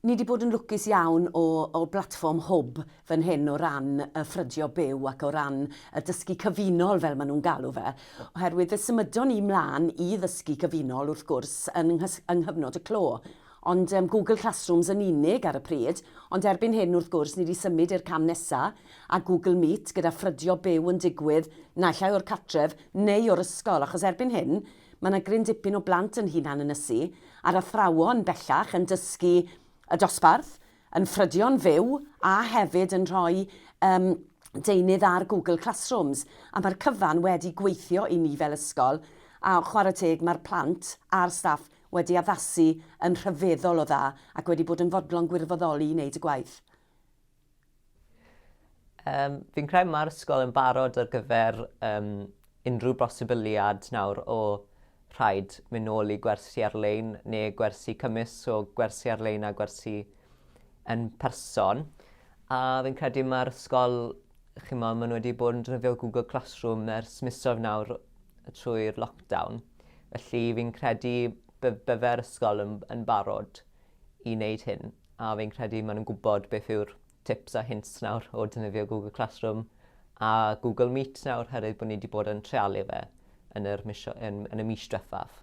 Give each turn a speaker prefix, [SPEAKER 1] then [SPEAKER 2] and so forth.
[SPEAKER 1] Ni 'di bod yn lwcus iawn o o blatfform hwb fan hyn o ran y ffrydio byw ac o ran y dysgu cyfunol fel ma' nhw'n galw fe, oherwydd fe symudon ni 'mlan i ddysgu cyfunol wrth gwrs yn nghys- yng nghyfnod y clo, ond yym Google Classrooms yn unig ar y pryd, ond erbyn hyn wrth gwrs ni 'di symud i'r cam nesa a Google Meet gyda ffrydio byw yn digwydd naill ai o'r cartref neu o'r ysgol achos erbyn hyn Mae yna gryn dipyn o blant yn hunan ynysu, a'r athrawon, bellach, yn dysgu y dosbarth, yn ffrydio'n fyw, a hefyd yn rhoi yym deunydd ar Google Classrooms. A mae'r cyfan wedi gweithio i ni fel ysgol, a chwarae teg, mae'r plant a'r staff wedi addasu yn rhyfeddol o dda ac wedi bod yn fodlon gwirfoddoli i wneud y gwaith.
[SPEAKER 2] Um, fi'n credu mae'r ysgol yn barod ar gyfer um, unrhyw bosibiliad nawr o rhaid mynd nôl i gwersi ar-lein neu gwersi cymys o gwersi ar-lein a gwersi yn person. A fi'n credu mae'r ysgol, chi'n meddwl, maen nhw wedi bod yn drefio Google Classroom ers misoedd nawr trwy'r lockdown. Felly fi'n credu byddai'r ysgol yn, yn barod i wneud hyn. A fi'n credu maen nhw'n gwybod beth yw'r tips a hints nawr o defnyddio Google Classroom a Google Meet nawr herwydd bod ni wedi bod yn trealu fe yn, yr mis, yn, yn y mis diwethaf.